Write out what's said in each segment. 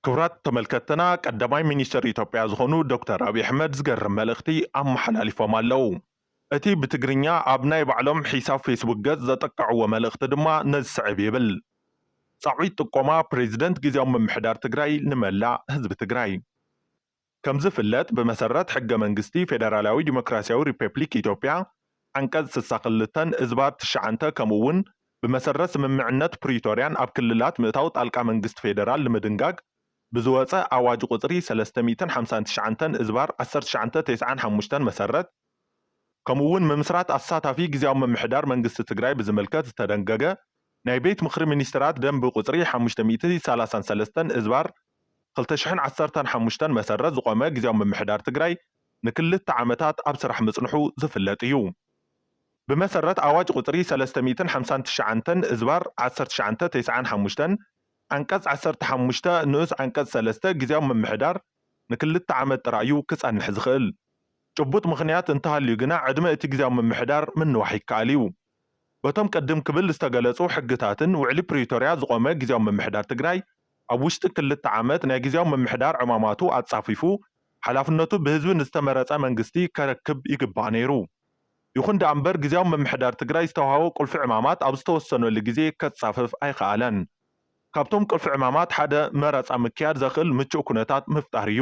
ክቡራት ተመልከትና ቀዳማይ ሚኒስትር ኢትዮጵያ ዝኾኑ ዶክተር ኣብይ ኣሕመድ ዝገርም መልእኽቲ ኣመሓላሊፎም ኣለዉ። እቲ ብትግርኛ ኣብ ናይ ባዕሎም ሒሳብ ፌስቡክ ገፅ ዘጠቀዕዎ መልእኽቲ ድማ ነዚ ስዕብ ይብል። ፃዊት ጥቆማ ፕሬዚደንት ግዝያዊ ምምሕዳር ትግራይ ንመላእ ህዝቢ ትግራይ። ከምዝፍለጥ ብመሰረት ሕገ መንግስቲ ፌደራላዊ ዲሞክራሲያዊ ሪፐፕሊክ ኢትዮጵያ ዓንቀፅ ስሳ ክልተን እዝባር ትሽዓንተ ከምኡ እውን ብመሰረት ስምምዕነት ፕሪቶርያን ኣብ ክልላት ምእታው ጣልቃ መንግስቲ ፌደራል ንምድንጋግ ብዝወፀ ኣዋጅ ቁፅሪ ሰለስተ ሚእትን ሓምሳን ትሽዓንተን እዝባር ዓሰርተ ትሽዓንተ ቴስዓን ሓሙሽተን መሰረት ከምኡ እውን ምምስራት ኣሳታፊ ግዝያዊ ምምሕዳር መንግስቲ ትግራይ ብዝምልከት ዝተደንገገ ናይ ቤት ምኽሪ ሚኒስትራት ደንቢ ቁፅሪ ሓሙሽተ ሚእቲ ሰላሳን ሰለስተን እዝባር ክልተ ሽሕን ዓሰርተን ሓሙሽተን መሰረት ዝቖመ ግዝያዊ ምምሕዳር ትግራይ ንክልተ ዓመታት ኣብ ስራሕ ምፅንሑ ዝፍለጥ እዩ። ብመሰረት ኣዋጅ ቁፅሪ ሰለስተ ሚእትን ሓምሳን ትሽዓንተን እዝባር ዓሰርተ ትሽዓንተ ቴስዓን ሓሙሽተን ዓንቀፅ ዓሰርተ ሓሙሽተ ንኡስ ዓንቀፅ ሰለስተ ግዝያዊ ምምሕዳር ንክልተ ዓመት ጥራይ እዩ ክፀንሕ ዝኽእል። ጭቡጥ ምኽንያት እንተሃልዩ ግና ዕድመ እቲ ግዝያዊ ምምሕዳር ምንዋሕ ይከኣል እዩ። በቶም ቅድም ክብል ዝተገለፁ ሕግታትን ውዕሊ ፕሪቶርያ ዝቖመ ግዝያዊ ምምሕዳር ትግራይ ኣብ ውሽጢ ክልተ ዓመት ናይ ግዝያዊ ምምሕዳር ዕማማቱ ኣፃፊፉ ሓላፍነቱ ብህዝቢ ንዝተመረፀ መንግስቲ ከረክብ ይግባእ ነይሩ። ይኹን ደኣ እምበር ግዝያዊ ምምሕዳር ትግራይ ዝተውሃቦ ቁልፊ ዕማማት ኣብ ዝተወሰነሉ ግዜ ከፃፍፍ ኣይኸኣለን። ካብቶም ቁልፊ ዕማማት ሓደ መረፃ ምክያድ ዘኽእል ምቹእ ኩነታት ምፍጣር እዩ።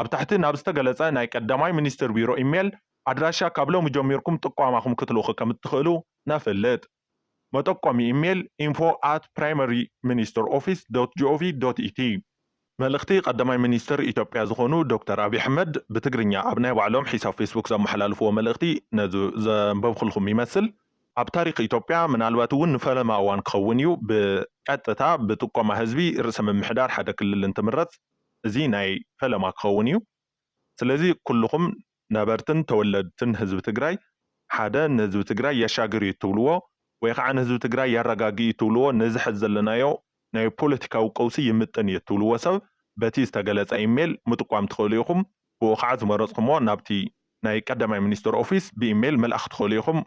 ኣብ ታሕቲ ናብ ዝተገለጸ ናይ ቀዳማይ ሚኒስትር ቢሮ ኢሜል ኣድራሻ ካብ ሎሚ ጀሚርኩም ጥቋማኹም ክትልእኹ ከም እትኽእሉ ነፍልጥ። መጠቆሚ ኢሜል፣ info at primaryministeroffice.gov.et መልእኽቲ ቀዳማይ ሚኒስትር ኢትዮጵያ ዝኾኑ ዶክተር ኣብይ ኣሕመድ ብትግርኛ ኣብ ናይ ባዕሎም ሒሳብ ፌስቡክ ዘመሓላለፍዎ መልእኽቲ ነዚ ዘንበብኹልኹም ይመስል። ኣብ ታሪኽ ኢትዮጵያ ምናልባት እውን ንፈለማ እዋን ክኸውን እዩ ብቀጥታ ብጥቆማ ህዝቢ ርእሰ ምምሕዳር ሓደ ክልል እንትምረፅ። እዚ ናይ ፈለማ ክኸውን እዩ። ስለዚ ኩሉኹም ነበርትን ተወለድትን ህዝቢ ትግራይ ሓደ ንህዝቢ ትግራይ የሻግር እዩ እትብልዎ ወይ ኻዓ ንህዝቢ ትግራይ የረጋግእ እዩ እትብልዎ ነዚ ሐዚ ዘለናዮ ናይ ፖለቲካዊ ቀውሲ ይምጥን እዩ እትብልዎ ሰብ በቲ ዝተገለፀ ኢሜል ምጥቋም ትኽእሉ ኢኹም ብኡ ኻዓ ዝመረፅኩምዎ ናብቲ ናይ ቀዳማይ ሚኒስትር ኦፊስ ብኢሜል ምልኣኽ ትኽእሉ ኢኹም።